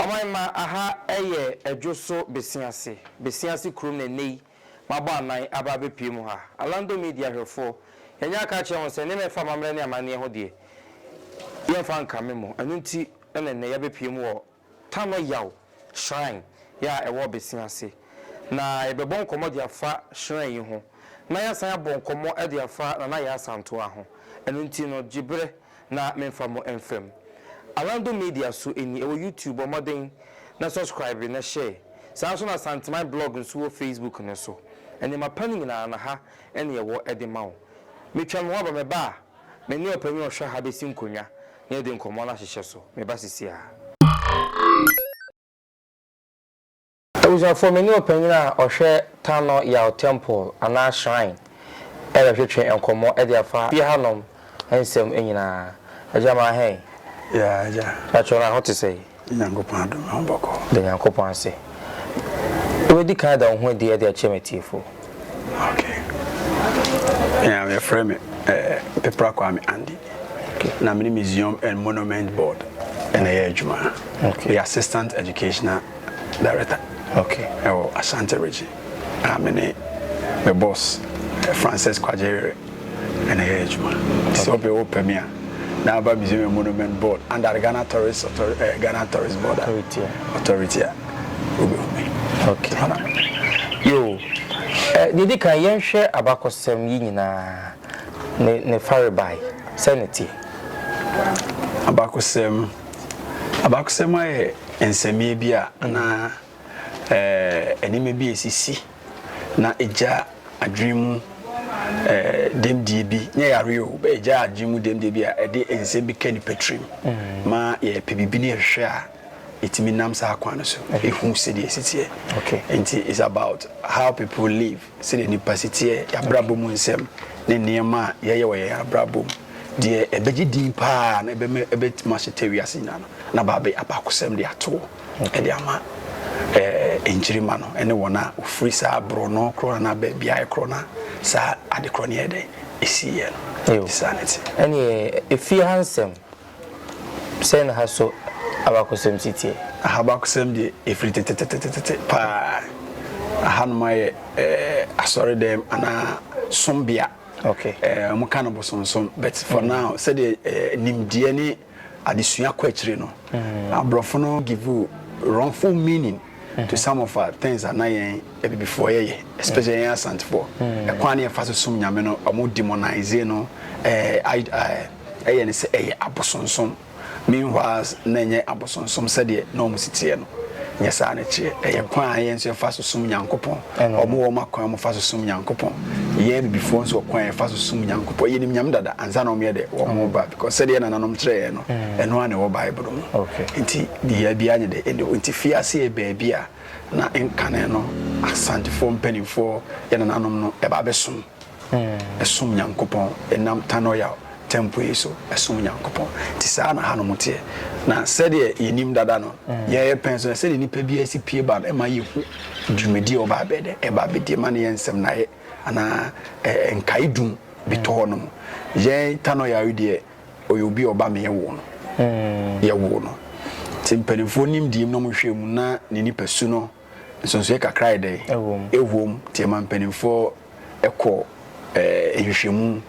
Ɔman mma aha yɛ Adwo so Besiase, Besiase kurom na nnɛ yi mabɔ anan aba abɛpue mu ha. Alando Media hwɛfoɔ, yɛanya aka akyerɛ ho sɛ nneɛma a ɛfa amammerɛ ne amanneɛ ho deɛ, yɛmfa nka me mo. Ɛno nti na nnɛ yɛabɛpue mu wɔ Tano Yaw Shrine yɛ a ɛwɔ Ɔbɛsia ase. Na yɛbɛbɔ nkɔmmɔ de afa shrine yi ho, na yɛasan abɔ nkɔmmɔ de afa Nana Yaa Asantewaa ho. Ɛno nti no, gye berɛ na memfa mo mfa mu. Alando Media so ni, ɛwɔ YouTube, bɔ mmɔden na subscribe na share. Saa ara nso na Asanteman Blog nso wɔ Facebook no so. Nneɛma pa no nyinaa, na ha na yɛwɔ de ma wo. Metwa me ho aba, mɛba a. Me ne ɔpanyin a ɔhwɛ ha besi nkonnwa na yɛde nkɔmmɔ no ahyehyɛ so. Meba sesiara. Abusuafo, me ne ɔpanyin a ɔhwɛ Tano Yao Temple, anaa Shrine, rebɛtwetwe nkɔmmɔ de afa fie hanom nsɛm nyinaa. Agya, ma hɛn. Yeah, agya. Patrɔ, na ho te sɛn? Nyankopɔn adome wo bɔkɔɔ. Da Nyankopɔn ase. Wobɛdi kan ada wo ho adi de akyerɛ m'atiefoɔ. Ok. Me a wɔfrɛ me Pepra Kwame Andy. Na me ne Museum and Monument Board na ɛyɛ adwuma. Meyɛ Assistant Educational Director wɔ Ashanti Region. Na me ne me boss Frances Kwagyeere. Ɛna ɛyɛ adwuma. Nti sɛ ɔpɛ wopɛ me a, na aba Museum and Monument Board under the Ghana Tourist Author eh, Ghana Tourist Board a, Authority a. authority a, wobɛhu me. Okay. Saa na mepɛ. Yo, eh, deɛ di kan yɛnhwɛ abakɔsɛm yi nyinaa ne ne farebae sɛ ne teɛ. Abakɔsɛm, abakɔsɛm ayɛ nsɛmeɛ bi a anaa. eh, nneɛma bi a esisi na egya adwene mu eh, dɛmdie bi nyɛ yare o bɛ egya adwene mu dɛmdie bi a ɛde nsɛm bi ka nipa tirim mm. ma yɛpɛ biribi ne yɛhwehwɛ a ɛtumi nam saa kwan no so ɛhu sɛdeɛ ɛsiteɛ nti it's about how people live Sɛdeɛ nnipa si teɛ, yɛn abrabɔ mu nsɛm, ne nneɛma a yɛyɛ wɔ yɛn abrabɔ mu, deɛ ɛbɛgye din pa ara na ɛbɛma ɛbɛtumi ahyeta wiase nyinaa no, na abɛyɛ abakɔsɛm de ato hɔ de ama nkyirimma no ne wɔn a wɔfiri saa borɔno korɔ anaa baabiara korɔ no a saa ade korɔ no yɛɛ dɛn ɛsiiɛ no. Saa ne te. Ɛnneɛ, ɛfie ha nsɛm. Sɛn na ha so abakɔsɛm si teɛ? Ha abakɔsɛm deɛ, ɛfiri tetetetete paa. Hanom ayɛ asɔredɛm anaa sombea. Okay. Wɔka no bosonsom, but for now, sɛdeɛ nimdeɛ ne adesua kɔ akyire no, mm. aborɔfo no give you wrongful meaning mm-hmm. to some of our things a na yɛn abibifoɔ yɛyɛ especially mm. yɛn asantefoɔ mm. ɛkwan ne yɛfa so som nyame no ɔmo demonize no Ɛyɛ no sɛ ɛyɛ abosonsom. Meanwhile, na ɛnyɛ abosonsom sɛdeɛ na wɔn si teɛ no. Nyɛ saa na ɛkyeɛ. Ɛyɛ kwan a yɛn nso yɛfa so som Nyankopɔn. Wɔn wɔ wɔn akwan a wɔfa so som Nyankopɔn. Yɛn Abibifoɔ nso wɔ kwan a yɛfa so som Nyankopɔn. Yɛnim Nyame dada ansa na wɔyɛ dɛ? Wɔn reba. Because sɛdeɛ nananom kyerɛɛ yɛn no, ɛno ara na ɛwɔ Bible mu. Enti biriaa biara nyɛ dɛ. Ɛnde enti fiase yɛ baabi a na nkane no Asantefoɔ mpanimfoɔ, yɛn nananom no, ɛba bɛsom. som Nyankopɔn ɛnam Tanoyao Temple yi so som Nyankopɔn. Nti saa na hanom teɛ. Na sɛdeɛ yɛnim dada no, yɛyɛ pɛn so na sɛdeɛ nnipa biara si pie ba no, ɛma yɛhu dwumadie a wɔba abɛyɛ dɛ, ɛba abɛdi, ɛma no yɛ nsɛmnaeɛ anaa nkaedum bi tɔ hɔ nom. Yɛn Tanoyao yi deɛ, ɔyɛ obi a ɔba ma yɛwoo no. Yɛwoo no. Nti mpanimfoɔ nim deɛ mu na wɔhwɛ mu na ne nipasu no, Nsonsoeɛ kakra ayɛ dɛ ɛwɔ mu nti ɛma mpanimfoɔ kɔ eh, nhwehwɛmu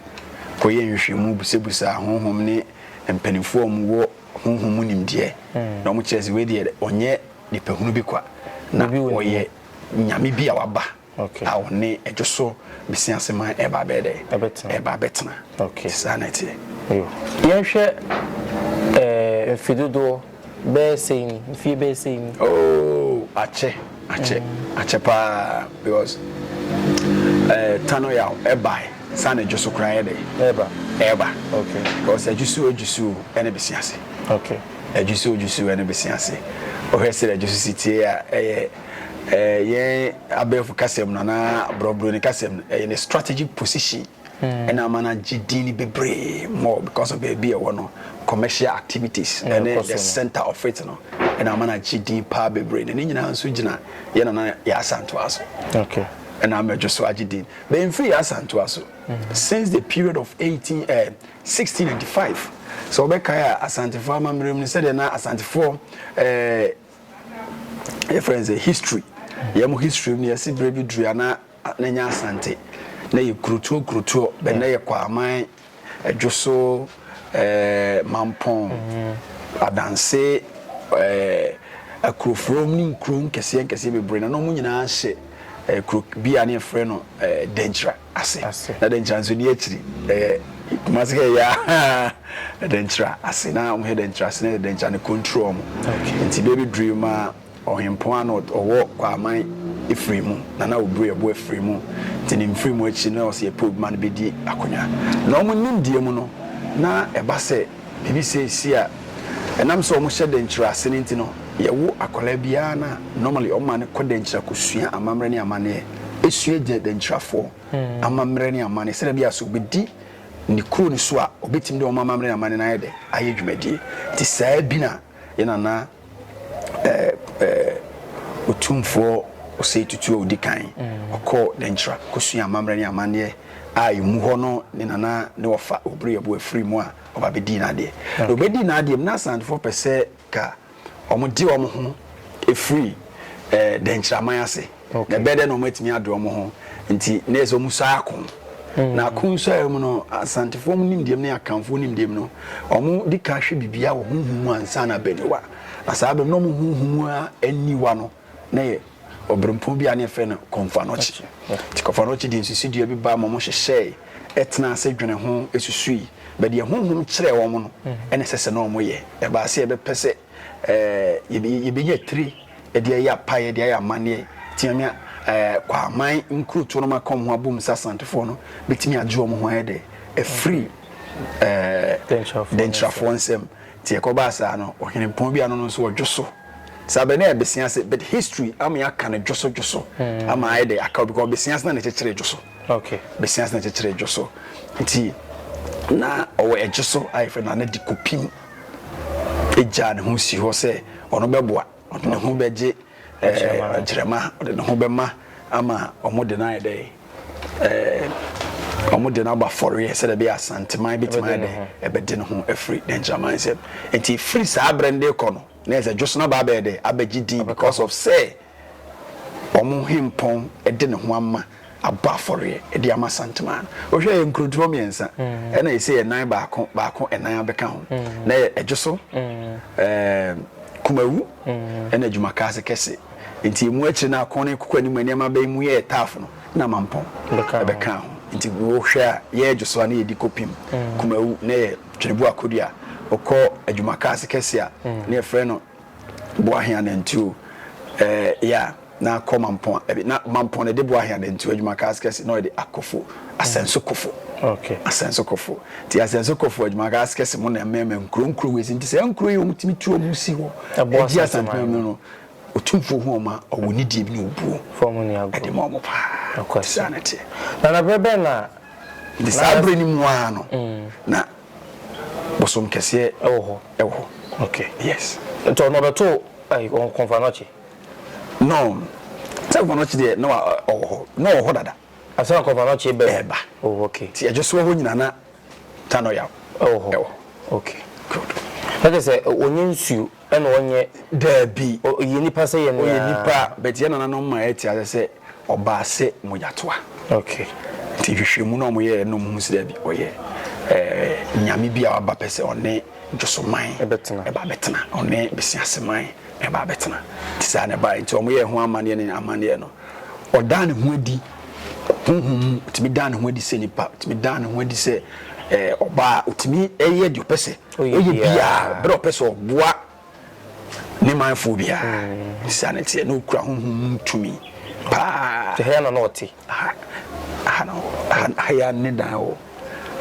kɔyɛ nhwehwɛmu busabusa honhom ne mpanimfoɔ a wɔwɔ honhom mu nimdeɛ hmm. na wɔkyerɛ sɛ wei deɛ ɔnyɛ nipahunu bi kwa na ɔyɛ nyame bi a waba a ɔne Adwo so Mesia ase man ɛreba abɛyɛ dɛ? Ɛreba abɛtena. Nti saa na ɛteɛ. Yɛnhwɛ eh, mfe dodoɔ bɛyɛ sei ni, mfie bɛyɛ sei ni. Oh, akyɛ, akyɛ, mm. akyɛ paa because eh, tano yaw ɛbae saa na Adwo so koraa yɛ dɛ? Ɛreba. Ɛreba. Okay. Because Adwo so Adwo so ɛne Mesia ase. Okay. Adwo so Adwo so ɛne Mesia ase. Ɔhwɛ sɛ Adwo so si tie a ɛyɛ eh, yɛn abɛɛfo kasɛm no anaa borɔborɔni kasɛm no ɛyɛ ne strategic position hmm. ɛna ama no agye din no bebree more because of baabi ɛwɔ no commercial activities hmm, ɛne the center of it no ɛna ama no agye din paa bebree na ne nyinaa nso gyina yɛ nana yɛ asantoa so ɛna ama adwo so agye din bɛmfiri yɛ asantoa so hmm. since the period of 18 uh, eh, 1695 sɛ wɔbɛkae a asantefoɔ amammerɛ mu no sɛdeɛ na asantefoɔ uh, yɛfrɛ no sɛ history yɛn mo history mu no yɛsi berɛ bi dua na n'anya asante na yɛ kurotuo kurotuo bɛ na yɛ kwaman adwoso ɛɛ eh, mampɔn mhm. adanse ɛɛ eh, akuroforom ne nkuro nkɛseɛ nkɛseɛ bebree na na wɔn nyinaa hyɛ ɛɛ eh, kuro bi a ne yɛfrɛ no ɛɛ denkyira. ase. Na dɛ nkyerɛ anso ni akyiri ɛyɛ kumase kɛ ɛyɛ ahaa dɛ nkyerɛ ase na ɔmo hɛ dɛ nkyerɛ ase na ɛyɛ dɛ nkyerɛ ne control ɔmo nti bɛ bi duru yi ma ɔhenpɔn ano ɔwɔ kɔ aman efiri mu na na ɔbue ɛbo efiri mu nti ne nfiri mu akyiri na ɔsi ɛpɛ obi ma no bɛ di akonwa na ɔmo nimdeɛ mu no na ɛba sɛ Biribi sɛɛ si a, ɛnam sɛ wɔhyɛ dɛnkyira ase no nti no, yɛwo akwadaa biara no a, normally wɔma no kɔ dɛnkyira kɔsua amammerɛ ne amanneɛ. Ɛsua gya dɛnkyirafoɔ amammerɛ ne amanneɛ sɛdeɛ ɛbɛyɛ a sɛ ɔbɛdi ne kuro no so a, ɔbɛtumi de wɔn amammerɛ ne amanneɛ no ayɛ dɛ? Ayɛ dwumadie. Nti saa bi na yɛn Nana ɛɛ ɛɛ otumfoɔ ɔsɛe tutu a odi kan mm. ɔkɔɔ dɛnkyerɛ kosua amammerɛ ne amanneɛ a emu hɔ no ne nana ne wɔfa obere ɛbo afiri mu a ɔba bɛdii n'adeɛ na ɔbɛdii n'adeɛ mu na asantefoɔ pɛ sɛ ka wɔde wɔn ho ɛfiri ɛɛ dɛnkyerɛ aman ase na ɛbɛyɛ dɛ na wɔn atumi adwe wɔn ho nti na yɛ sɛ wɔn sɔe ako hmm. na ako nsɔe mu no asantefoɔ mu nimdeɛ mu ne akanfoɔ nimdeɛ mu no wɔn di kan hwɛ biribiara wɔ huhu mu ansa na abɛniwa na saa bɛm na wɔn huhu mu aniwa no na yɛ ɔbrɛmpɔn bi a ne yɛfrɛ no kɔnfanɔkye nti kɔnfanɔkye de nsusu dua bi ba ma wɔn hyehyɛe ɛtena ase dwene ho esusui bɛdeɛ honhom kyerɛ wɔn no hmm. ɛna ɛsɛ sɛ na wɔn yɛ ɛbaase ɛbɛpɛ sɛ ɛɛ yɛbɛnya tire de ayɛ apaeɛ de ayɛ amanneɛ teamia ɛɛ Kwaaman nkurotoɔ no ma kɔm ho abom sɛ Asantefoɔ no bɛtumi agye wɔn ho ayɛ dɛ ɛfiri ɛɛ Dɛnkyirafoɔ nsam te ɛkɔbaa saa no ɔhene mpɔn bi ano no nso ɔdwo so saa bɛ ne ɛbɛsia ase but history ama yɛaka no dwo so dwo so hmm. ama ayɛ dɛ aka obi kɔ bɛsia ase na ne kyekyere dwo so bɛsia ase na kyekyere dwo so nti na ɔwɔ ɛgye so ayɛ fɛ na ne de kɔpim gyaa ne ho sii hɔ sɛ ɔno bɛboa, ɔde ne ho bɛgye agyirama, ɔde ne ho bɛma ama wɔn de no ayɛ dɛ ɛɛ wɔn de no aba fɔreɛ sɛdeɛ ɛbɛyɛ asanteman bɛtumi ayɛ dɛ ɛbɛde ne ho afiri ne agyiraman nsam nti firi saa abere no de kɔ no na ɛsɛ dwosona baa bɛyɛ dɛ abɛgye din because of sɛ. wɔn hempɔn de ne ho ama abɔ afɔreɛ de ama santemaa no wohwɛ yɛ nkurotoɔ mmiɛnsa mm. ɛna ɛsɛ yɛ nan baako baako ɛnan abɛka ho mm. na yɛ ɛdwo so mm. kumawu ɛna adwuma kaa se kɛse nti emu akyire no akɔn ne koko anim nneɛma bɛyi mu yɛ ɛtaafo no na mampɔn ɛbɛka ho nti wohwɛ a yɛ ɛdwo so a na yɛdi kɔpim kumawu na yɛ twerɛbu akodua ɔkɔ adwuma kaa se kɛse a na yɛfrɛ no Boahe anantuo eh yeah na kɔ mampɔn ɛbi na mampɔn na ɛde boahe anantuo adwuma cars kɛse na ɔde akofo asɛnso kofo okay asɛnso kofo ti asɛnso kofo adwuma cars kɛse mo na mmɛmɛ nkuro nkuro wei nti sɛ nkuro yi wɔn tumi tu wɔn si hɔ ɛgye asantuma mu no otumfuo ho ɔma ɔwɔ ne die bi na obuo fɔm ni agu ɛde ma ɔmo paa saa na teɛ na na bɛrɛ bɛn na de saa bere ni mu ara no mm. na Bosom kɛseɛ wɔ hɔ wɔ hɔ ok yes. Ntɔ na ɔbɛto ai kɔnfanɔkye no sɛ kɔnfanɔkye deɛ na ɔwɔ hɔ na ɔwɔ hɔ dada. Ansa na kɔnfanɔkye ɛbɛ ɛba oh ok. Nti ɛdwosoɔ hɔ nyina na tanoyaw ɛwɔ hɔ ɛwɔ hɔ ok good. Nakyerɛ sɛ ɔnyɛ nsuo. Ɛna ɔnyɛ? Daabi. Ɔyɛ nipa sɛ yɛn nea. Ɔyɛ nipa but yɛn nananom ma yɛte ase sɛ ɔbaa sɛ mogyatoa. Okay. Nti nhwehwɛmu no a wɔyɛɛ no ɔmo hu sɛ daabi ɔyɛ ɛɛ nyame bi a waba pɛ sɛ ɔne Dwosoman ɛbɛtena ɛba abɛtena ɔne Besiaseman ɛba abɛtena nti saa na ɛbaeɛ nti ɔmo yɛɛ ho amanneɛ ne amanneɛ no ɔdaa ne ho adi honhom mu ɔtumi daa ne ho adi sɛ nipa ɔtumi daa ne ho adi sɛ ɛɛ ɔbaa ɔtumi ɛyɛ deɛ ɔpɛ sɛ ɔyɛ biara berɛ a ɔpɛ sɛ ɔboa ne manfoɔ biara. Saa na ɛteɛ, na ɔkura honhom mu tumi paa. Nti ha na na ɔte? Aha, aha na hɔ, aha, aha yɛ ne dan hɔ.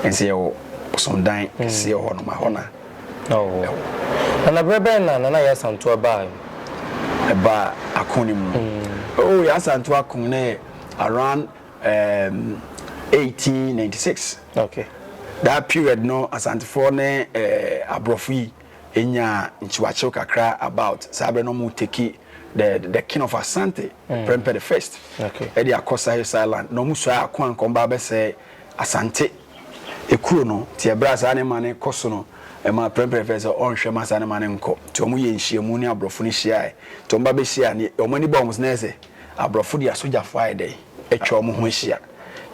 Nso yɛwɔ bosomdan kɛseɛ hɔ nom, hɔ na ɛwɔ. Na na berɛ bɛn na Nana Yaa Asantewaa baa? Ɛbaa ako no mu. Oh, Yaa Asantewaa ko no yɛ around um, 1896. Ok that period no Asantefoɔ ne aborɔfo yi nyaa nkyewakyew kakra about saa berɛ no ɔmo take the the king of Asante mm. Prempeh the first ɛde okay. akɔ Sahels Island na ɔmo sua ako ankɔm ba abɛsɛe Asante ekuro no te ɛberɛ a saa ne ma ne kɔ so no ɛma Prempeh the first ɔnhwɛ ma saa ne ma ne nkɔ te ɔmo yɛ nhyiamu ne aborɔfo no hyiae te ɔmo ba bɛhyia ne ɔmo ani ba ɔmo sɛ na ɛsɛ aborɔfo de asogyafoɔ ayɛ dɛ atwa ɔmo ho ahyia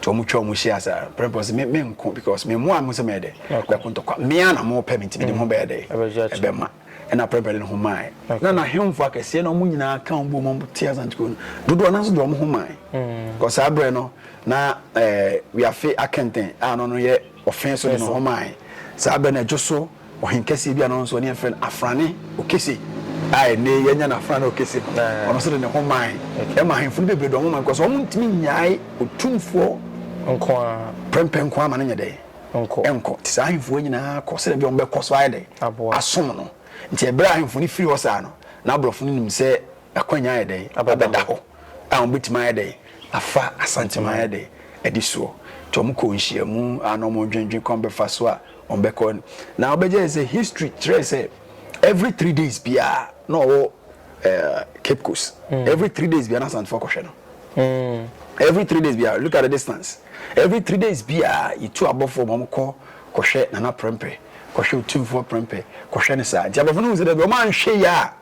nti wɔn twɛ wɔn hyia saa pɛrɛ pɛrɛ sɛ me me nko because me mu a mo sɛ mɛ dɛ bɛ ko ntɔkwa mmea na mo pɛ mi nti mi de mo bɛyɛ dɛ ɛbɛ ma ɛna pɛrɛ pɛrɛ de ne ho maa yi na na ahemfo akɛseɛ na wɔn nyinaa ka wɔn bu wɔn ti asantiko no dodoɔ nanso de wɔn ho maa yi kɔ saa brɛ no na ɛɛ wiafe akɛntɛn a no no yɛ. Ɔfee so de ne ho mae. Saa bɛ no, ɛdwo so ɔhen kɛseɛ bi a no nso ɔne yɛfrɛ no Afrane Okese a ɛnnɛ yi anya no Afrane Okese no, ɔno nso de ne ho mae. Ɛma ahenfo no bebree de wɔn ho mae because wɔn ntumi nnyae otumfoɔ nko ara prɛmpɛ nko ara ma no nyɛ dɛ nkɔ. Nti saa ahenfo yi nyinaa kɔ sɛdeɛ bia wɔn bɛkɔ so ayɛ dɛ asom no. Nti ɛberɛ a ahenfo no firi hɔ saa no, na aborɔfo no nim sɛ akwannya ayɛ dɛ abɛda hɔ. a wɔbɛtumi ayɛ dɛn afa asantem ayɛ dɛn adi soɔ nti wɔn kɔɔ nhyiamu a na wɔn dwendwen kwan bɛfa so a wɔn bɛkɔ na wɔbɛgyae sɛ history kyerɛ sɛ every three days biara na ɔwɔ eh, cape coast mm. every three days biara na asantefo kɔhwɛ no mm. every three days biara look at the distance every three days biara yɛtu abɔfoɔ ma wɔkɔ kɔhwɛ nana prɛmpɛ kɔhwɛ otumfoɔ prɛmpɛ kɔhwɛ ne saa nti abɔfoɔ no hu sɛ dɛ bi wɔn anhwɛ yie a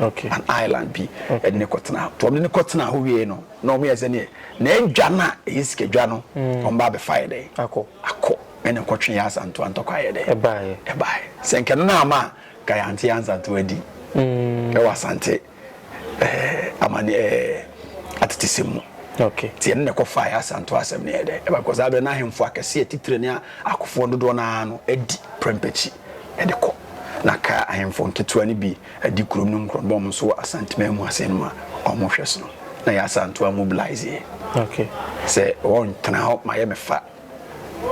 okay an island bi ɛde ne kɔtena hɔ tɔm de ne kɔtena hɔ wie no na wɔn yɛ sɛ neɛ na adwa no a ɛyɛ sikadwa no mm. wɔn ba abɛfa yɛ dɛn akɔ akɔ ɛna nkɔtwe yɛ asanto antɔkɔ ayɛ dɛn ɛbaayɛ ɛbaayɛ sɛ nkɛno no ama ka yɛ ante ansanto adi mm. ɛwɔ asante ɛɛ amane ɛɛ atete sɛm mu okay tiɛ no na ɛkɔfa yɛ asanto asɛm no yɛ dɛn ɛba kɔ saa bɛ n'ahemfo akɛseɛ titire ne akofoɔ dodoɔ no ara no adi prɛmpɛkyi de kɔ, na kaa ahemfo nketewa no bi di kurom no nkurɔdɔm so wɔ Asanteman mu ase no ma wɔhwɛ sono. Na Yaa Asantewaa mobilisee sɛ wɔntena hɔ ma yɛmmɛfa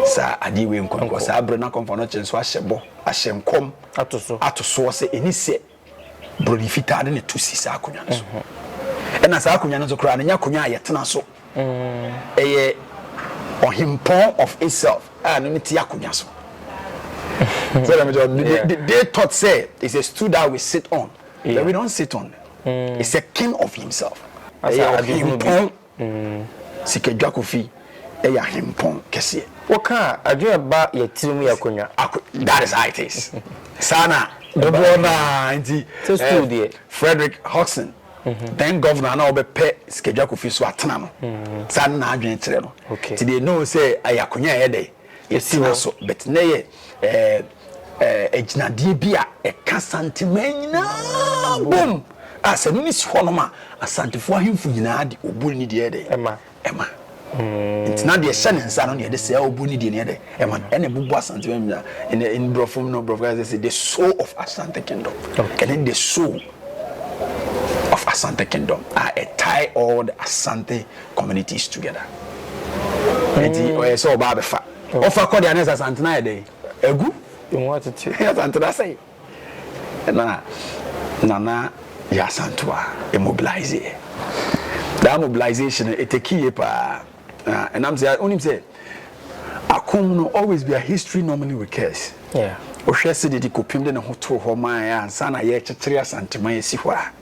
saa adeɛ wei nkɔ, because saa berɛ no na Komfo Anokye nso ahyɛ bɔ, ahyɛ nkɔm ato soɔ sɛ ɛni sɛ Buroni fitaa de ne to si saa akonnwa no so. Mm-hmm. Ɛna saa akonnwa no nso koraa no nyɛ akonnwa a yɛtena so. Mm. Ɛyɛ ɔhempɔn of itself a no ne te akonnwa so. So let me tell you, they, they, they thought say it's a stool that we sit on. Yeah. But we don't sit on. Mm. It's a king of himself. Ɛyɛ ɔhempɔn. Sika dwa kofi yɛ ahempɔn kɛseɛ. Wo ka a adwene ɛba yɛ tiri mu yɛ akonwa. That is how it is saa na. Dodoɔ no ara nti Frederick Hodgson then governor na ɔbɛ pɛ sika dwa kofi so atena no saa na n'adwene kyerɛ no nti they know sɛ ɛyɛ akonwa ɛyɛ dɛ. Yɛsena so, but na ɛyɛ ɛɛ agyinadeɛ bi a ɛka Santeman nyinaa bom a sɛ ɛno ne si hɔnom a, Asantefoɔ ahemfo nyinaa de obuo ne deɛ ɛdɛ ɛma. ɛma. Mm. Nti na deɛ ɛhyɛ ne nsa no na yɛde sɛ obuo ne deɛ ne ɛdɛ ɛma no ɛna ɛbobɔ Asanteman nyinaa. Ɛna in Borɔfo mu no Borɔfo ka sɛ the soul of Asante kingdom. Okay. Ɛne the soul of Asante kingdom a ɛtae all the Asante communities together nti ɔyɛ sɛ ɔba abɛfa ɔfa kɔ deɛ anɛ sɛ asantena yɛ dɛn agu ɛmu atete asantena sɛ na nana yɛ asantoa immobilize yɛ that mobilization ɛtɛki yɛ paa ɛnam sɛ wonim sɛ akom no always be a history normally recurs wohwɛ sɛ de de kɔpem de ne ho too hɔ ma ansa na yɛkyekyere asantema yɛsi hɔ a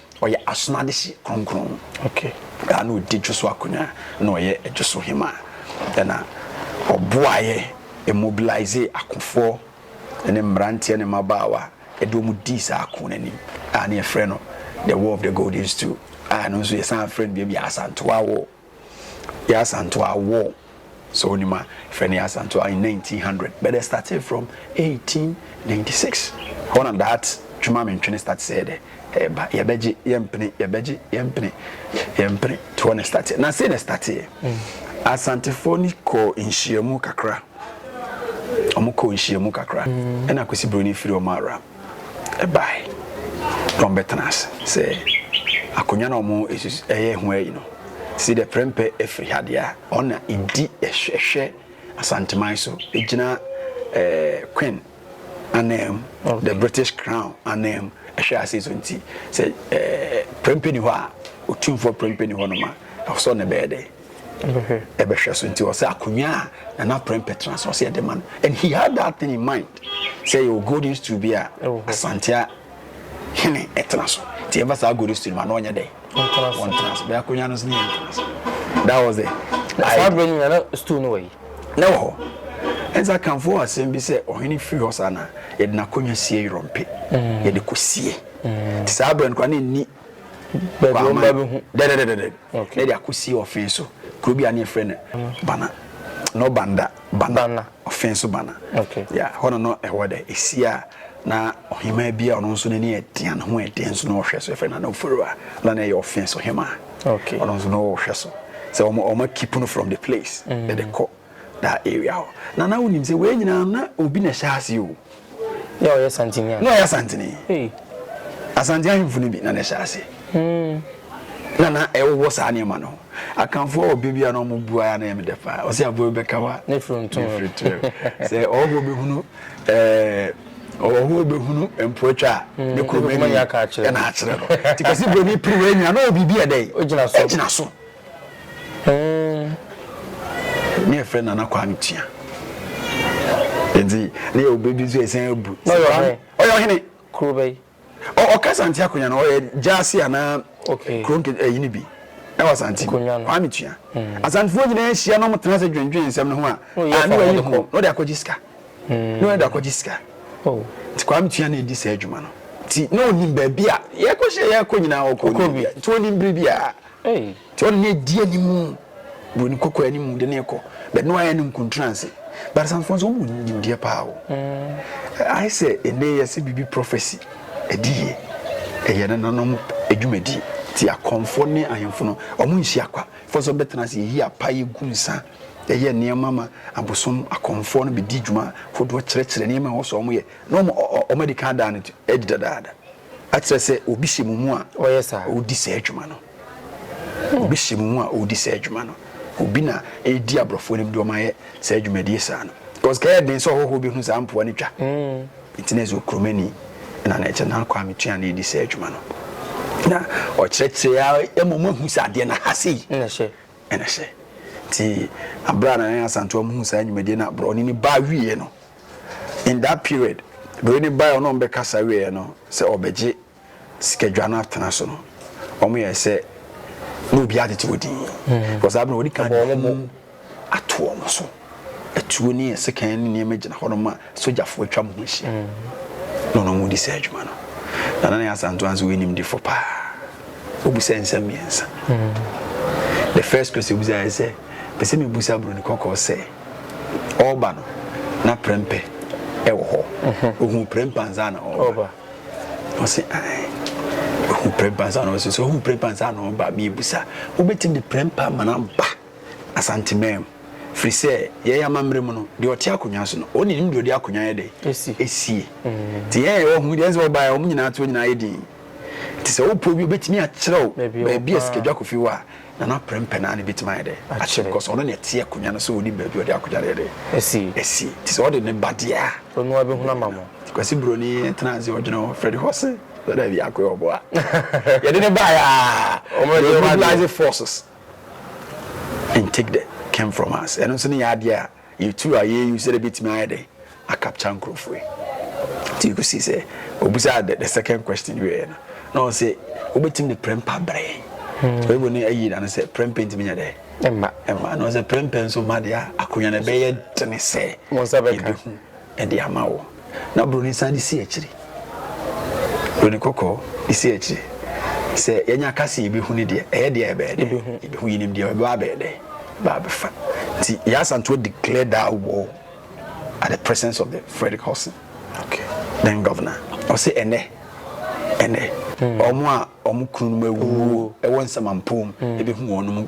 Ɔyɛ As'n'adehye Kronkron a nna ɔdi dwoso akonwa, nna ɔyɛ dwoso hemaa, nna ɔboaeɛ, ɔmobilisee akofoɔ ne mmeranteɛ ne mmabaawa de wɔn dii saa ako no anim a na yɛfrɛ no The War of the Golden Stool a ɛno nso yɛsan frɛ no baabi a Asantewaa War. Yaa Asantewaa wɔ, sɛ wonim a, frɛ no Yaa Asantewaa in nineteen hundred but dɛ startee from eighteen ninety six hɔ na that Twema me ntwene start sɛɛ dɛ ɛɛba yɛbɛgye yɛmpene yɛbɛgye yɛmpene yɛmpene to hɔ na startee na sei na starteeɛ mm. Asantefoɔ ni kɔɔ nhyiamu kakra wɔn kɔɔ nhyiamu kakra mm. ɛna Kwesi Broni firi wɔn ara bae na wɔbɛtena ase sɛ akonnwa no a wɔyɛ ho ayi no si dɛ prɛmpɛ afiri ha deɛ a ɔno na ɛdi ɛhwɛ Asanteman so gyina eh, Queen anam okay. the British Crown anam ɛhwɛ ase so nti sɛ eh, prɛmpɛ ni hɔ a ɔtumfoɔ prɛmpɛ ni hɔ no ma ɛwɔ sɛ ɔno bɛyɛ dɛ ɛbɛhwɛ so nti ɔsɛ akonnwa a nana prɛmpɛ tena so ɔsɛ ɛde ma no and he had that thing in mind sɛ yɛwɔ golden stool bi a asantea hene ɛtena so nti yɛmfa saa golden stool ma na ɔnyɛ dɛ ɔntena so bɛyɛ akonnwa no so ne yɛntena so that was it saa berɛ nyina na stool no wɔ yi na wɔ hɔ ɛnsa kamfo asɛm bi sɛ ɔhene firi hɔ saa na yɛde n'akonnwa sie yorɔmpe mm. yɛde kɔsie mm. nti saa berɛ no kora ne nni baabi wɔn ba bi ho dɛdɛdɛdɛdɛ na de akɔsi ɔfee so kuro bi a ne yɛfrɛ no bana no banda bana ɔfee so bana ya hɔ no no ɛhɔ dɛ ɛsi a na ɔhemaa bi a ɔno nso n'ani ɛtea ne ho ɛdeɛ nso na ɔhwɛ so ɛfrɛ no na ɔforo a na na ɛyɛ ɔfee so hemaa ɔno nso na ɔhwɛ so sɛ wɔn wɔn akipu no from the place dɛdɛ mm. kɔ that area hɔ na na wonim sɛ wei nyinaa na obi na ɛhyɛ ase o na ɔyɛ santini na ɔyɛ santini asante ahemfo no bi na na ɛhyɛ ase hmm. na na ɛwowɔ saa nneɛma no akanfoɔ wɔ baabi a na wɔn bu ara na ɛmɛ dɛ paa ɔsɛ aboa bi bɛka wa ne firi ntom firi tirɛ sɛ ɔwɔ bɛhunu ɛɛ ɔwɔ bɛhunu mpoatwa a hmm, ne kuromani ɛna akyerɛ no tikasi buroni piri wɔ anya na ɔwɔ biribi ɛdɛ ɛgyina so. ne yɛfrɛ nana kwame tua nti ne yɛ obedi nso ɛsɛn abu ɔyɛ ɔhene kuro bɛyi ɔka sante akonya no ɔyɛ gyaase anaa kuro ɛyi no bi ɛwɔ asante kwame tua hmm. asantefoɔ nyinaa ahyia no ɔmotena sɛ dwendwen nsɛm no ho a ne wayi ho na ɔde akɔgye sika hmm. na ɔde akɔgye sika oh. nti kwame tua na ɛdi saa adwuma no nti na ɔnim baabi a yɛkɔhyɛ yɛkɔ nyinaa ɔkɔ nti ɔnim biribi a Ei! John na edi anim, buroni kɔkɔɔ anim de no rekɔ, but na wayɛ no nkuntranse. But asantefoɔ nso, wɔn wɔ nimdeɛ paa o. Ayɛ sɛ ɛnɛ yɛse biribi prophecy, ɛde yie. Ɛyɛ nananom adwumadie. Nti akɔmfoɔ ne ahemfo no, wɔn nhyia kwa. Ɛfɔ sɛ wɔbɛtena ase, yɛyi apa, yɛgu nsa, yɛyɛ nneɛma ma abosom akɔmfoɔ no bɛdi dwuma hodoɔ kyerɛkyerɛ nneɛma a ɛwɔ sɛ wɔyɛ, na wɔn wɔn adi kan ada no adi dadaada. Ɛkyerɛ sɛ obi hyɛ mo mu a ɔredi saa adwuma no. Obi hyɛ mo mu a ɔredi saa adwuma no. Obi na ɛredi aborɔfo anim de wɔn ayɛ saa adwumadie saa no. Because ka ɛyɛ den sɛ ɔhɔhoɔ bi hu saa mpoa no twa. Nti na ɛsɛ okuromani na na ɛkyɛ na Kwame Tua na ɛredi saa adwuma no. Na ɔkyerɛkyerɛ a ɛma wɔahu sɛ adeɛ no aha sei. na ɛhyɛ. Nti berɛ a Nana Asantewam huu saa nnwumadie no a berɛ ɔne no ba wieɛ no, in that period, berɛ no baeɛ ɔne wɔn bɛkasa wieɛ no, sɛ ɔbɛgye sikadwa no atena so no, wɔn yɛɛ sɛ na obiara tete wɔ din. Because saa berɛ no wɔde kan de hu ato wɔn so. atuo ne sekan ne nneɛma gyina hɔnom a sogyafo atwa mo ho ahyia na ɔno mu di saa adwuma no na nana yɛ asanto anso wɔ animdefo paa obisa nsɛm mmiɛnsa hmm. the first question obisa yɛ sɛ pɛ sɛ mebusa buroni kɔkɔɔ sɛ ɔreba no na prɛmpɛ ɛwɔ hɔ mhm. ohun prɛmpɛ ansa na ɔreba ɔsi ae ohun prɛmpɛ ansa na ɔreba so ohun prɛmpɛ ansa na ɔreba mi ebusa wobɛtumi de prɛmpɛ ama na ba. Asantemam, firi sɛ yɛn amammerɛ mu no, deɛ ɔte akonnwa so no, wɔn nim deɛ ɔde akonnwa yɛ dɛ esie. Te yɛn yɛwɔ ho deɛ sɛ wɔbaeɛ wɔn nyinaa to nyinaa yɛ din. Te sɛ wopɛ obi obetumi akyerɛw baabi a sika dwa kofi hɔ a, Nana Prempeh naa na ebetumi ayɛ dɛ akyerɛ because ɔno na ɛte akonnwa no so onim baabi ɔde akonnwa no yɛ dɛ esie. Te sɛ ɔde ne ba deɛ a, ɔno ara bɛhunu ama mo. Kwasi Broni tena ase ɔdwene ho Freddy Hose sɛ daabi akoyɛ ɔboa yɛde ne baeɛ a, wɔn yɛ mobilize forces. and take the came from us ɛno nso ne yɛ adeɛ a yɛtu a yɛyi sɛ dɛ bɛtumi ayɛ dɛ akapcha nkurɔfoɔ yi nti kɔsi sɛ obusaa the, the second question wieɛ no na ɔ sɛ wobɛtumi de prɛmpa brɛ hmm. oyibo ne ayi na no sɛ prɛmpa ntumi nyɛ dɛ ɛma ɛma na ɔ sɛ prɛmpa nso ma deɛ akonnwa no ɛbɛyɛ tene sɛ yɛbɛhu de ama wo. Na buroni san de si akyiri. Buroni kɔkɔɔ de si akyiri. Sɛ yɛnya ka se yɛbɛhu no deɛ, ɛyɛ deɛ a ɛbɛyɛ dɛ. Yɛbɛhu yɛnim deɛ ɛbɛba abɛyɛ dɛ, ɛbɛba abɛfa. Nti Yaa Asantewaa declared that war at the presence of the Frederick Hudson, then governor. Ɔse ɛnnɛ, ɛnnɛ, wɔn a wɔn kununom awuo wɔ nsɛmampɔm bɛhu wɔn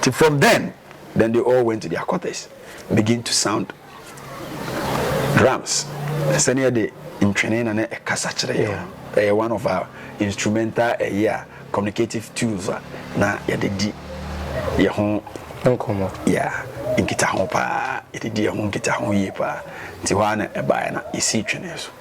Nti from then, then they all went to their quarters and begin to sound drums. Sɛnea de ntwene na na ɛkasa kyerɛ yɛn no, ɛyɛ one of our instrumental ɛyɛ a communicative tools a na yɛde di yɛn ho nkɔmmɔ. Yeah, nkitaho paa, yɛde di yɛn ho nkitaho yie paa. Nti hɔ ara na ɛbaeɛ na yɛsii twene so.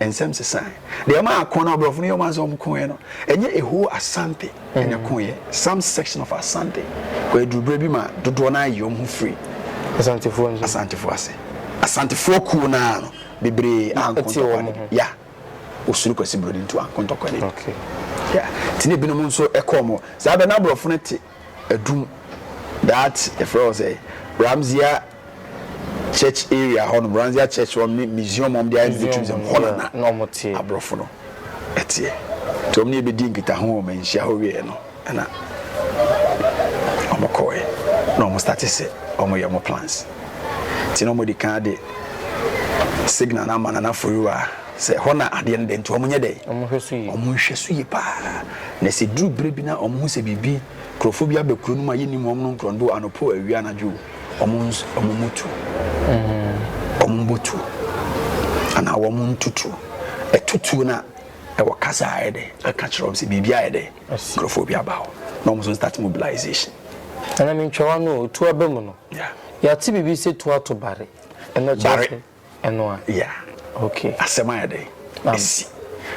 Nsɛm sesae. Deɛ ɛma ako na aborɔfo no yɛ wɔn adze sɛ wɔkoeɛ no, ɛnyɛ a whole Asante na ɛkoeɛ, some section of Asante kɔɔ aduru berɛ bi ma dodoɔ no ara yii wɔn ho firi Asantefoɔ nso. Asantefoɔ ase. Asantefoɔ kuo no ara no, bebree anko ntɔkwa no di. Ya. Wɔsuro Kwasi Broni nti wɔanko ntɔkwa no di. Okay. Ya. Nti na ebinom nso kɔ wɔn. Saa berɛ no aborɔfo no te. adum that yɛfrɛ hɔ sɛ Ramsea church area hɔ nom Ramsea church hɔ ne museum ɔm de ayɛ ne tourism hɔ na na aborɔfo no ɛteɛ nti ɔm ne yɛbɛdi nkitaho wɔ manhyia hɔ wieɛ no ɛna ɔmo kɔɛ na ɔmo starte sɛ ɔmo yɛ ɔmo plans nti na ɔmo de kan de signal no ama nana foyiwa Sɛ ɛhɔ na adeɛ no da nti wɔn nyɛ dɛn? Wɔn hwɛ so yie. Wɔn hwɛ so yie paa. Na sɛ duru berɛ bi na wɔn ho sɛ biribi nkurɔfoɔ bi aba kuro no mu a yɛnnim wɔn no nkorɔndo anɔpa awia anadwo wɔn nso wɔn mu tu. Wɔn mbɔ tu anaa wɔn ntutuo. Ɛtutuo na ɛwɔ kasa a ayɛ dɛ aka kyerɛ wɔn sɛ biribi ayɛ dɛ nkurɔfoɔ bi aba hɔ na wɔn nso start mobilization. Ɛna mentwawa no otu aba mu no. Yɛate biribi sɛ tu ato bare. Ɛna kyerɛ sɛ. ɛno a yeah okay asɛm ayɛ dɛ esi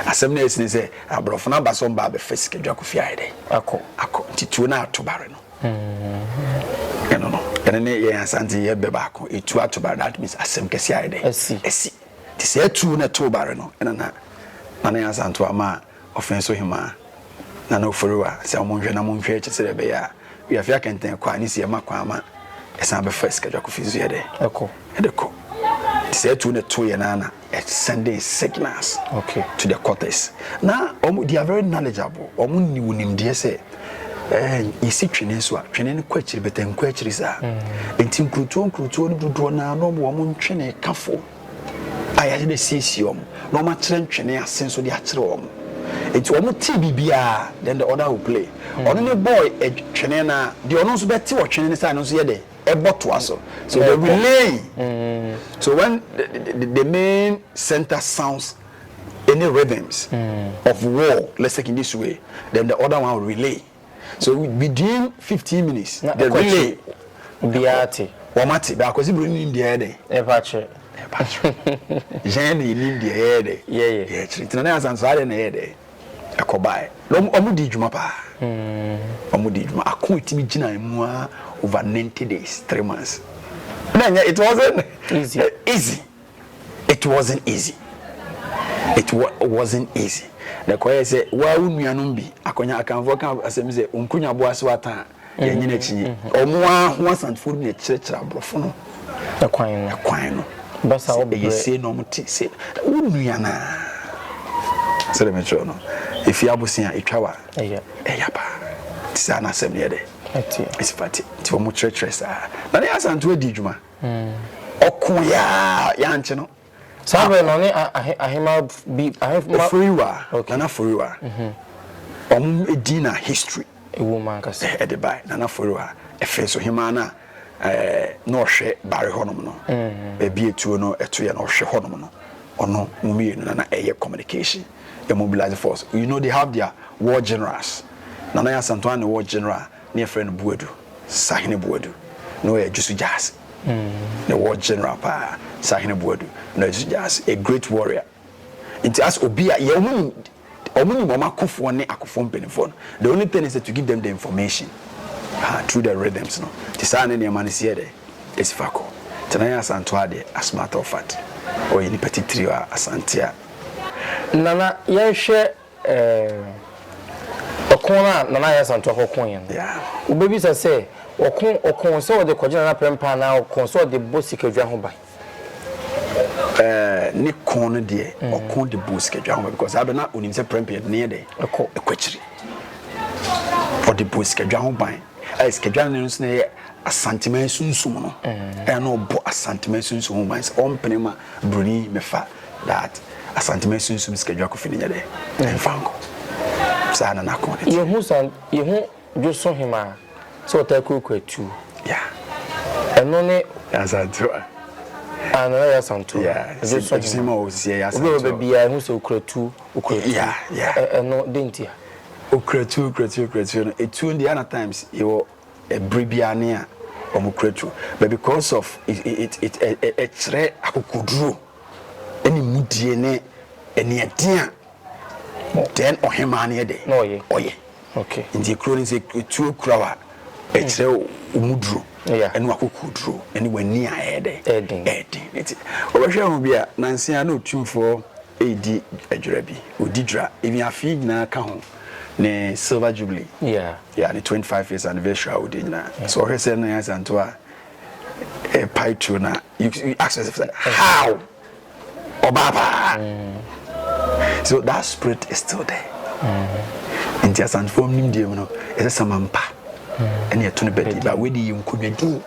asɛm na esi ne sɛ aborɔfo no aba so mba abɛfa sika dwa kofi ayɛ dɛ akɔ akɔ nti tuo no ato bare no mm-hmm. ɛno no ɛno ne yɛn asante yɛ bɛ baako etuo ato bare that means asɛm kɛse ayɛ dɛ esi esi te sɛ etuo na ɛto bare no ɛna na na ne asanto ama a Ɔfɛn so hemaa, Nana Oforiwa, sɛ wɔnhwɛ na wɔnhwɛ akyi sɛdeɛ ɛbɛyɛ a Wiafe Akɛntɛn kɔ a ne sie ma kwan ma ɛsan bɛfa Sikadwa Kofi nso yɛ dɛ? Ɛkɔ. Ɛde kɔ. Nti saa tuo no ɛtoeɛ no ara na ɛ sending signals okay. to the quarters. Na wɔn, they are very knowledgeable, wɔn nni wo nimdeɛ sɛ ɛɛ yɛsi twene nso a twene no kɔ akyiri bɛtɛ nkɔ akyiri saa. Mm. Nti nkurutuo nkurutuo no dodoɔ no ara na wɔn wɔn ntwene kafo. ayɛ de asiesie wɔn, na wɔakyerɛ ntwene ase nso de akyerɛ wɔn. Nti wɔn tee biribiara, then the other will play. Hmm. Ɔno ne boy twene na deɛ ɔno nso bɛte ɔtwene ne saa no nso yɛ de ɛbɔ toa so. So they relay. Hmm. So when the, the, the, the main center sounds any rhythms mm. of war, let's take in this way, then the other one will relay. So within fifteen minutes. Na ɛkɔ akyire obiara ate. Wɔn ate bɛ akwasi buroni nim deɛ ɛyɛ dɛ. Ɛpa akyire. Ɛpa akyire. Yɛn na enim deɛ ɛyɛ dɛ. Yɛyɛ. Yɛ akyire ntina na asan so adeɛ na ɛyɛ dɛ. Ɛkɔ baaɛ. Na wɔn wɔn di dwuma paa. Hmm. Wɔn di dwuma ako etimi gyina emu a over ninety days three months. Na nyɛ it wasn't easy. Easy. It wasn't easy, it wa wasn't easy. Na ɛkɔyɛɛ sɛ waa wo nuanom bi, Akonya Akanfoɔ ka asɛm sɛ, Onkunya boa so ata a, yɛnyini akyinye. Wɔn ara ho Asantefoɔ no bi na ɛkyerɛkyerɛ aborɔfo no Ɛkwan no. ɛkwan no. Basa Sɛ wo ɛyɛ brɛ. sei na wɔte sei. Wo nua no ara. Sɛdeɛ mekyerɛw no, ɛfiri abosea a, ɛtwa wo a, Ɛyɛ. ɛya paa. Nti saa na asɛm no yɛ dɛ? Ɛteɛ. Ɛsi fa te. Nti wɔkyerɛkyerɛ saa. Na ne Asantefoɔ adi dwuma. Ɔkoeɛ ara a yɛankye no. Saa berɛ no ɔne ahemma bi ahemma. Oforiwa Nana Oforiwa wɔn din na history. Ɛwɔ mu ankasa. Ɛde bae Nana Oforiwa ɛfiri so hemmaa no a na ɔhwɛ Bari hɔnom no baabi etuo no ɛtoeɛ no ɔhwɛ hɔnom no ɔno wɔn mmienu na na ɛyɛ communication ɛmobilize force you know they have their war generals Nana Yaa Asantewaa ne war general. Ne yɛfrɛ no Boadu, Sahene Boadu. Na ɔyɛ Jusu Gyasi. Ne war general paa, Sahene Boadu. Na ɔyɛ Jusu Gyasi, a great warrior. Nti as obi a yɛn ho nim, wɔn nim wɔn akofoɔ ne akofoɔ mpanimfoɔ no. The only thing is that to give them the information ha through the rhythms no. Nti saa ne nneɛma no si yɛ dɛ, esi fa kɔ. Nti Nana Asantewaa deɛ, as matter of fact, ɔyɛ nipa titiriw a Asante a. Nana, yɛnhwɛ Eh, ɔko no a Nana Yaa Santua kɔkoeɛ no, wobɛbisa sɛ ɔko, ɔko sɛ ɔde kɔgye Nana Prɛmpaa anaa ɔko sɛ ɔde bɔ sikadwa ho ban? Eh, ne ko no deɛ, mm. ɔko de bɔ sikadwa ho ban because abɛ na onim sɛ Prɛmpaa yɛde ne yɛ dɛ ɛkɔ ɛkɔ akyiri. Ɔde bɔ sikadwa ho ban. Ɛyɛ sikadwa no nso na ɛyɛ Asantema sunsum no. Mm. Ɛna ɔbɔ Asantema sunsum ho ban sɛ ɔmpene ma Broni mefa That Asante ma sunsum sika dwa kofi no nyɛ dɛ ɛnfa nkɔ saa na n'akɔn no te. Yehu san yehu Dwoso Hemaa sɛ ɔtaa kurakura tuo. Yeah. Ɛno ne. Asante wa. Ah Nana Yaa Santo. Yeah. Dwoso Hemaa o sisi ɛyɛ Asante o. Obi a ɔbɛ biara ehu sɛ okura tuo okura tuo. Yeah yeah. Ɛno de ntia. Okura tuo okura tuo okura tuo no etuo no deɛ ana times yɛ wɔ. Bere biara ne a wɔn kura tuo. But because of it, it, it, ɛ- ɛ- ɛkyerɛ akokoduro ne mudie ne aniɛden a then ɔhemaa no yɛ dɛ na ɔyɛ ɔyɛ okay nti ekuro no sɛ tuo kura wa ɛkyerɛ wo mu duro Yeah. ɛne wakokoduro ɛne w'ani a ɛyɛ dɛ Ɛden. ɛden nti ɔbɛhwɛ ho bi a nanse a na otumfoɔ ɛredi adwira bi ɔdi dwira ebi afei nyinaa ka ho ne silver jubilee yeah yeah ne 25 years anniversary a wodi nyinaa yeah. so ɔhwɛ sɛ no yɛ asanto a eh, pie tuo na you, you ask yourself like, how ɔbaa paa mm. so that spirit is still there mm. nti asantofo nim deɛ mu no ɛsɛ samampa mm. ɛne ɛto no bɛdi ba wei de yɛ nkonnwadin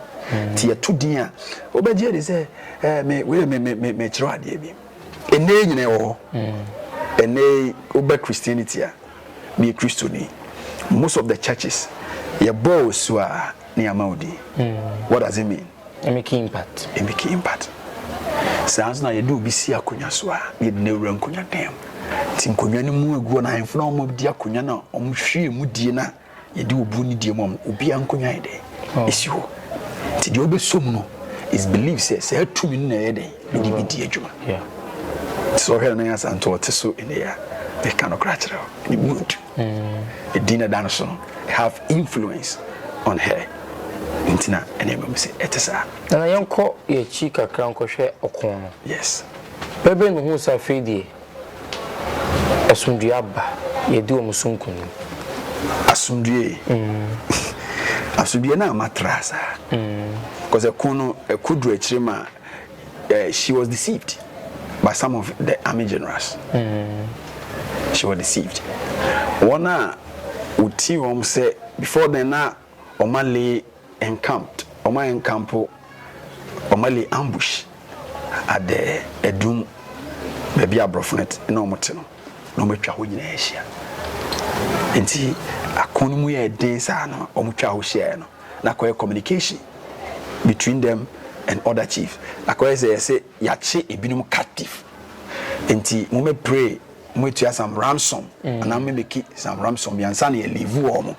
nti ɛto din a wobɛgye de sɛ eh, me wei me me me kyerɛ adeɛ bi Ɛnnɛ yi nyina yɛwɔ hɔ. Ɛnnɛ yi woba Christianity a, meyɛ Kristoni. Most of the churches, yɛbɔɔ wo asu a na yɛama wo din. What does it mean? Ɛmiki impact. Ɛmiki impact. Saa nso na yɛde obi si akonnwa so a, na yɛde no awura nkonnwa dan mu. Nti nkonnwa no mu agu hɔ na ahemfo no a wɔdi akonnwa no a wɔhwie mu die no a Yɛde obuo ne die mu ama obiara nkonnwa yɛ dɛ esi hɔ. Nti deɛ ɔbɛsom no is believe sɛ saa tumi no na ɛyɛ dɛ ɛde bi di adwuma. Nti sɛ ɔhwɛ no na yasa nto ɔte so ɛnɛ a ɛka no kora kyerɛ ne mood. Ɛdin na da no so no have influence on her. Nti na ɛna ɛma mu sɛ ɛte saa. Nana yɛnkɔ yɛakyi kakra nkɔhwɛ ɔko no. Yes. Bɛbɛ no hu sɛ afei deɛ. Asomdwoeɛ aba, yɛadi wɔn so nkonim. Asomdwoeɛ, asomdwoeɛ no ama traa saa. Because ɛko no, ɛko duru akyire ma eh, she was deceived by some of the army generals. She was deceived. Wɔn a wɔti wɔn sɛ before then na wɔn ale Encamped, wɔn a enkampo, wɔn a lay ambush at the adum, baabi a aborɔfo no te, na wɔn te no, na wɔn atwa hɔ nyinaa ahyia. Nti ako no mu yɛɛ den saa no, wɔn twaa hɔ hyiaeɛ no, na akɔyɛ communication between them and other chiefs. Akɔyɛ sɛ yɛse yɛakye ebinom captive, nti mo mɛ pray. Ɔmo etua some ransom anaa ɔmo emeki some ransom bi ansa na yɛ liivu ɔmo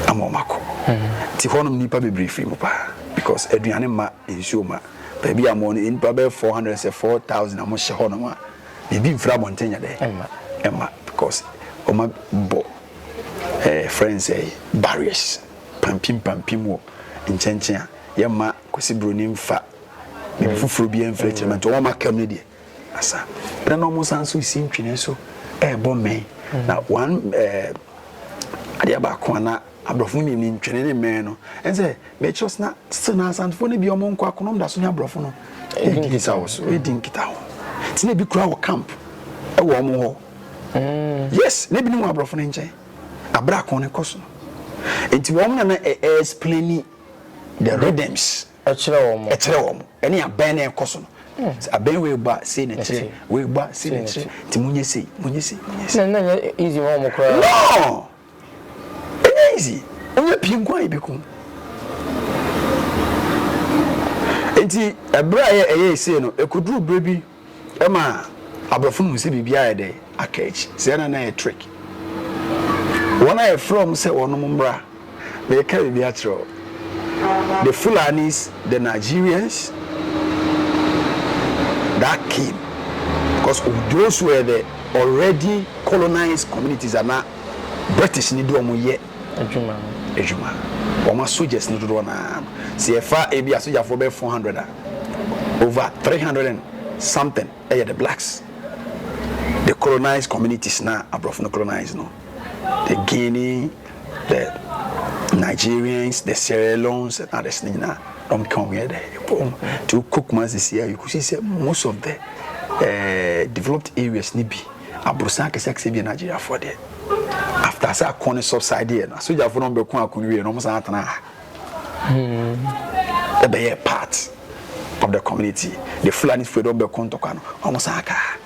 ama ɔmo akɔ. Ti hɔ nom nipa bebree firi mu paa because aduane ma, nsuo ma. Baabi a ɔmo wɔ no nipa bɛyɛ four hundred sɛ four thousand a ɔmo hyɛ hɔ nom a biribi nfiri abɔnten nyɛ dɛ ɛma because ɔmo abɔ ɛɛ eh, friends ɛɛ eh, barriers pampim pampim wɔ nkyɛnkyɛn a yɛ ma. Kwesi Broni nfa biribi foforɔ biara mfiri akyire ma nti wɔn a wɔaka mu no deɛ asa na na wɔn san nso resi ntwene so ɛrebɔ mmɛn na wɔn ɛɛ adeɛ baako a na aborɔfo no nim ntwene ne mmɛn no ɛnsɛ mɛkyerɛ sena sena asantefoɔ no bi wɔn nkɔ akonom da so ne aborɔfo no ɛdi nkita wɔ so ɛdi nkita ho tena ebi kura wɔ camp ɛwɔ wɔn hɔ mm. yes na ebi ne wɔn aborɔfo no nkyɛn abere akɔn ne kɔ so nti wɔn na na ɛɛ explaini. The rhythms ɛkyerɛ wɔn ɛkyerɛ wɔn ɛne abɛn na ɛkɔ so no sɛ abɛn wei bɔ a sei na ɛkyerɛ wei bɔ a sei na ɛkyerɛ nti mo nyɛ sei mo nyɛ sei mo nyɛ sei. na nyɛ easy ma wɔn koraa. no ɛnyɛ easy wonyɛ pii nko a ebi ko nti ɛbrɛ a ɛyɛ ɛyɛ sei no ɛkɔduru berɛ bi. Ɛma aborɔfo no hu sɛ biribiara ayɛ dɛ aka akyi, sɛ ɛyɛ na na ɛyɛ trick. Wɔn a yɛfrɛ wɔn sɛ wɔnom mmra, mereka biribi akyerɛ wo, the Fulanis, the Nigerians, that came because of those were the already colonized communities ana British ne de wɔn yɛ adwuma no. Adwuma. Wɔn asogya's no dodoɔ naa no. Sɛ yɛfa ebi asogyafoɔ bɛyɛ 400 a, over three hundred and something yɛ the blacks the colonized communities na aborɔfo no colonized no the guinea the nigerians the sierra leones and others ne nyinaa dɔm ka wɔn yɛ dɛ ɛbɔ wɔn ti wokɔ kumasi si a you could see sɛ most of the uh, developed areas ne bi aborosan akɛse akɛse bi yɛ nigeriafoɔ deɛ after sɛ akɔn ne subside yɛ no asogyafoɔ no bɛko akɔn wie no wɔn san atena ha. Wɔ bɛyɛɛ part of the community the Fulani firi dɔm bɛko ntɔkwa no wɔn san akaa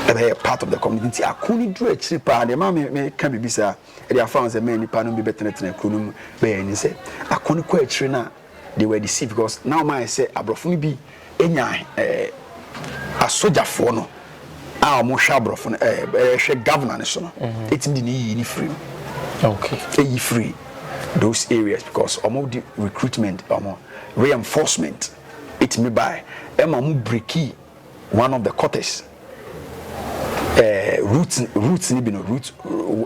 ɛbɛyɛ part of the community nti ako no duru akyiri paa deɛ maa mi mi ka bibi saa ɛde afa ho sɛ mɛn nipa no bi bɛtenatena kuro no mu bɛyɛ ɛni sɛ ako no kɔ akyiri no a. They were deceived because na wɔn ayɛ sɛ aborɔfo no bi nya eh, asogyafoɔ no a wɔhwɛ aborɔfo no eh, ɛhwɛ governor no so no mhm. ɛtumi de ne yiyi ne firi no okay. ɛyi firi those areas because wɔn de recruitment wɔn reinforcement ɛtumi bae ɛma wɔn breki One of the cortex eh, root root ni bi no root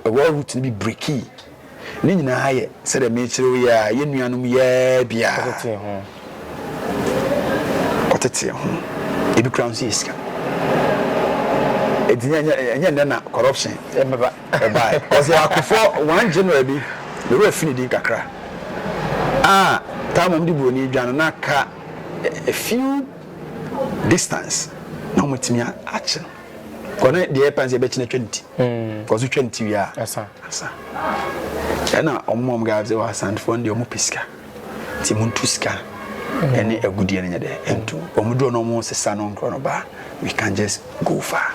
ɛwɔ root ni bi breki ne nyinaa yɛ sɛdeɛ mekyerɛ yi a yɛ nuanom yɛɛ biara ɔtetee ho ebi kura nso yɛ sika ɛti ɛnyɛ nnɛ na corruption ɛbɛba ɛbae ɔsɛ akofoɔ one general bi ne wura fi ne din kakra a taa mom de buroni dwa no na ka a few distance na wɔn atumi akyen kɔ na deɛ ɛpan sɛ ɛbɛkyena twa nti kɔ so twa nti wie a ɛsa ɛna wɔn wɔn gaa sɛ wɔ asantefoɔ no deɛ wɔn pɛ sika ti mu ntu sika ɛne agudeɛ no nyɛ dɛ ɛntu wɔn duro na wɔn sesa no nkorɔ no baa we can just go far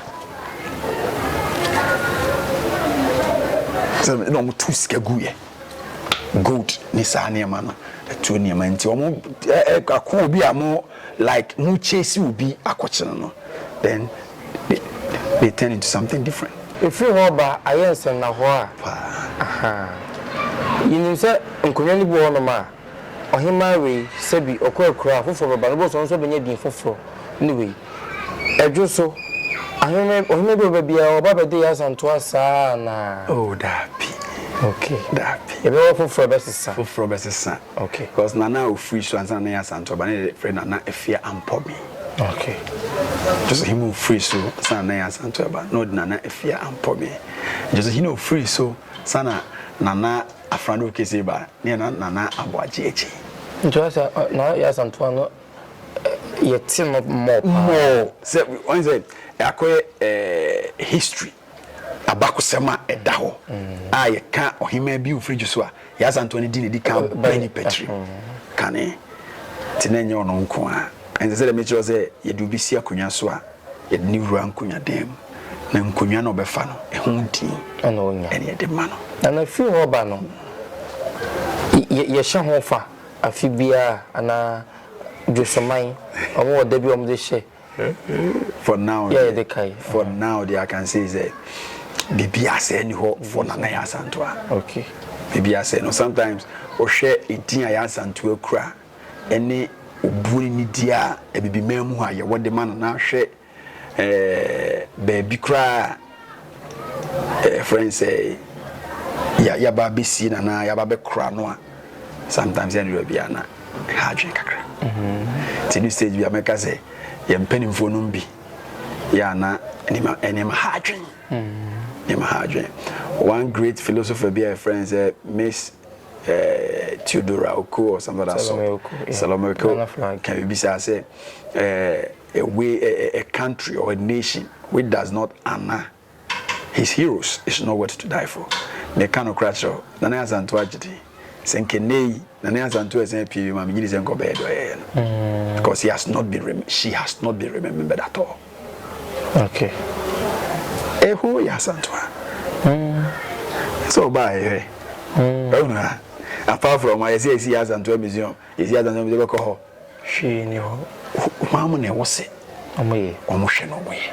sɛ na wɔn tu sika gu yɛ. gold ne saa nneɛma no ɛtuo nneɛma nti wɔn ɛɛ akɔ obi a mo like mo chase obi akɔkye no no then they, they turn into something different. Efiri hɔ ba ayɛ nsɛnnahɔ a. Paa. Aha. Yɛnim sɛ nkonnwa no bi wɔ hɔnom a. Ɔhemmaa wei, sɛbi ɔkurakuraa foforɔ bɛba no, wobɛhu sɛ ɔno nso ɔbɛnya din foforɔ ne wei. Ɛdwo so, ahene, ɔhene bi a ɔba biara, ɔba bɛde yɛ asantoa saa ara anaa? Oh, daabi. Okay. Daabi. Yɛbɛwɔ foforɔ a ɛbɛsesa. Foforɔ bɛsesa. Okay. Because Nana a ɔfiri so ansa na ne yɛ asantoa ba no na yɛfrɛ no Nana Afia Ampɔbe. Okay. Ɛdwo so, hene a ɔfiri so ansa na ne yɛ asantoa ba no na ɔde Nana Afia Ampɔbe. Ɛdwo so, hene a ɔfiri so ansa na Nana afena do kese ba ne yɛ na Nana Aboagye akyi. Nti wa sɛ na yɛ asantoa no yɛ te no mɔ paa. Mɔ sɛ wɔn sɛ akɔyɛ ɛɛ history abakosɛm a ɛda hɔ mm. a yɛ ka ɔhemaa bi ofiri ju so a yɛ asantoa no di ne di kan bɛn ne pɛtiri kane te na nyɛ ɔno nko a ɛnsɛ sɛ dɛ mekyerɛ sɛ yɛde obi si akonnwa so a. Yɛde no wura nkonnwa dan mu, na nkonnwa no a ɔbɛfa no, ɛho din na onya. Ɛne yɛde ma no. Na na firi hɔ ba no, yɛ, yɛhyɛ ho fa afe biara anaa dwosoman, wɔn wɔ da bi wɔn de hyɛ. For now, yɛ yɛde kae. For now, deɛ I can say is that biribi asɛe ni hɔ for Nana Yɛ Asantoa. Okay. Biribi asɛe no sometimes ɔhwɛ edin a Yɛ Asantoa kura. ne obuo ne nidie a Abibiman mu hɔ a yɛwɔ de ma no na hwɛ ɛɛ baabi koraa a ɛfrɛ no sɛ ya yaba abɛsie no anaa yaba abɛkora no a sometimes yɛn de baabi a na ha adwene kakra mm-hmm. ti ne stage bi a mɛka sɛ yɛn mpanimfoɔ no bi yɛ ana nneɛma nneɛma ha adwene mm-hmm. nneɛma ha adwene one great philosopher bi a yɛfrɛ no sɛ Miss Theodora Oko or somebody so Salome Oko, yeah. Salome Oko Nana Frank. can be said say uh, a way a, a country or a nation which does not honor his heroes is not worth to die for ne ka no kora kyerɛ Nana Asanto agyedi sɛ nkene yi Nana Asanto ɛsɛn pii ma menyini sɛ nkɔbɛyɛ dɔ yɛyɛ no mm. because he has not been she has not been remembered at all Okay. Eho yɛ asanto a. Mm. So ba yɛ. Mm. Ehuna. Apart from I see I see asanto museum. I see asanto museum bɛkɔ hɔ. Hwee ni hɔ. Maa mo na ɛwɔ se. Ɔmo yɛ. Ɔmo hwɛ na ɔmo yɛ.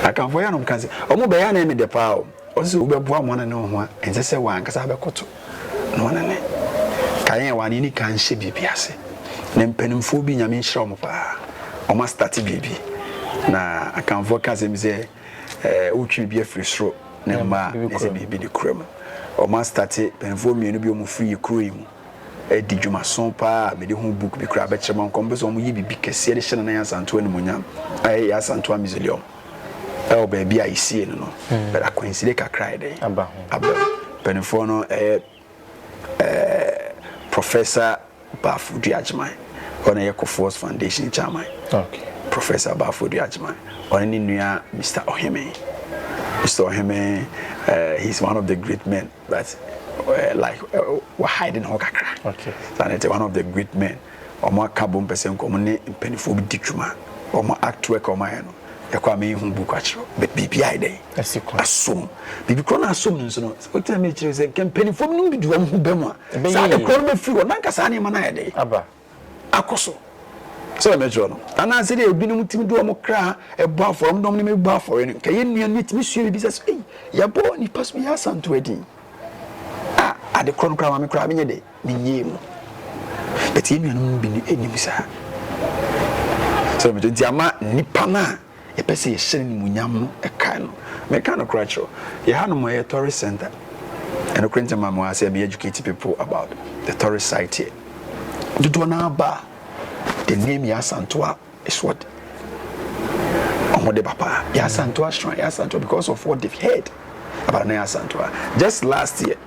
Akanfo yɛ anom kan se. Ɔmo bɛyɛ na ɛmɛ de paa o. Ɔse wobɛboa mo anane wo ho a, ɛnsɛ sɛ w'ankasa abɛkoto na w'anane. Ka yɛn a w'ane ani ka nhyɛ biribi ase. Na mpanimfoɔ bi, Nyame nhyira wɔn paa, wɔn astate biribi. Na Akanfoɔ ka asɛm bi sɛ, eh, wotwe biribi afiri soro na mma a, na ɛsɛ biribi de kura mu. Wɔn astate, mpanimfoɔ mmienu bi, wɔn firi yɛ kuro yi mu adi dwumaso paa a mede ho book bi koraa bɛkyerɛ mo, anka wɔn pɛ sɛ wɔn yɛ biribi kɛseɛ de hyɛ Nana Yaa Asantewaa animuonyam, a ɛyɛ Yaa Asantewaa Mausoleum. ɛwɔ baabi a yɛsie no no hmm. but akwansire kakra yɛ dɛn aba mpanimfoɔ no ɛyɛ ɛɛ professor baafo duagyeman ɔno yɛ kofoɔs foundation chairman professor baafo duagyeman ɔne ne nua mr ɔheme mr ɔheme ɛɛ he is one of the great men but uh, like uh, wahide ne ho kakra okay. and it's one of the great men Ɔmo aka abom pɛ sɛ nka ɔmo ne mpaninfoɔ bi di dwuma. Ɔmo act work a ɔmo ayɛ no, yɛkɔ a me hu book akyerɛ wo, but biribi ayɛ dɛn? Asi kwan. Asom. Biribi korɔ no asom no nso no, wote na me kyerɛ wo sɛ nka mpaninfoɔ bi nom bi de ɔmo ho bɛ mu a, Ɛbɛyɛ saa de yie. korɔ no bɛfiri hɔ, na nka saa nneɛma no ayɛ dɛn? Aba. Akɔ so. Sɛ deɛ mekyerɛ wo no. Anaa sɛdeɛ ebinom tumi de ɔmo kra bɔ afɔre, ɔmo de ɔmo nneɛma bi bɔ afɔre no, nka yɛn nua no bɛtumi asua biribi sɛ, ei, yɛbɔ nipa so bi yɛ asantew a ɛdeɛn? Ah, ade korɔ no koraa ma me koraa menyɛ dɛn? Ne yie mu. But yɛn nuanom no bi nnim saa. So yɛbɛtɔ nti ama nipa no a yɛpɛ sɛ yɛhyɛ no nimuonyam no ɛkae no. Meka no kora kyerɛw. Yɛ ha nom yɛ tourist center. Ɛno kora nti ma mo asɛ me educate people about the tourist site here. Dodoɔ no aba a the name yɛ asantoa is what wɔn de ba paa. Yɛ asantoa shrine, yɛ asantoa because of what they've heard about na yɛ asantoa. Just last year.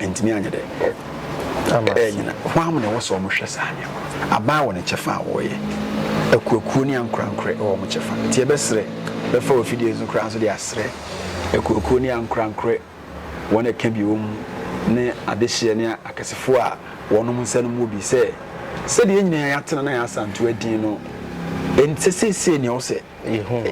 Ɛntumi anyɛ dɛ ɛnyina. Hwan na ɛwɔ sɛ wɔn hwɛ saa nneɛma? Aban wɔ ne kyɛfa a wɔyɛ. Akuakuo ne ankorankorɛ wɔ wɔn kyɛfa. Nti yɛbɛsrɛ, bɛfa wɔ fidie so koraa nso de asrɛ akuakuo ne ankorankorɛ wɔn a ɛka bi wɔ mu ne adehyeɛ ne akɛsefoɔ a wɔn nsa no mu wɔ bi sɛ, sɛdeɛ yɛn nyinaa yɛatena na yɛasantew adin no, ɛnsɛ seesei na ɛwɔ sɛ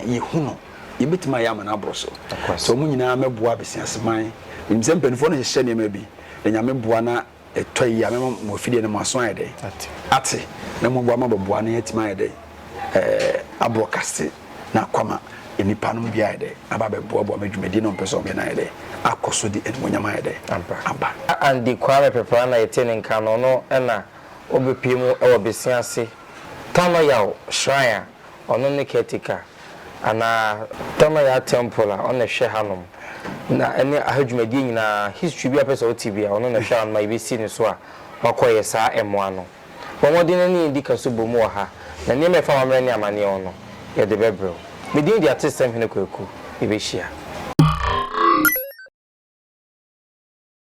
yɛhu no. yɛbɛtumi ayɛ ama no aboro so sɛ wɔn nyinaa mɛboa abesiaseman menim sɛ mpanimfoɔ no hyehyɛ nneɛma bi na nyame boa na ɛtɔ yi a mɛma mo afideɛ no mo aso ayɛ dɛn ate na moboa ma bɛboa no yɛatumi ayɛ dɛn ɛɛ aboro kase na akwama nnipa no bi ayɛ dɛn aba bɛboaboa ma dwumadi no ɔmpɛ sɛ ɔmyɛ no ayɛ dɛn akɔ so de animonyam ayɛ dɛn aba Andy Kwame Pepra na yɛte ne nka no ɔno na ɔbɛpie mu wɔ Besiase Tanoyaw Shrine a ɔno ne caretaker anaa tɔno yɛ a temple a ɔno na ɛhwɛ hanom na ɛne aha dwumadie nyinaa history bi a wopɛ sɛ wote bia ɔno na ɛhwɛ hanom a yɛbɛsi ne so a wakɔ yɛ saa ɛmoa no bɔ mmɔden na ne yɛndi ka so bɔ mu wɔ ha na nneɛma a ɛfa w'amerɛ ne amaneɛ ho no yɛde bɛbrɛ wo me din de Atesɛm Hene Kwaku yɛbɛhyia.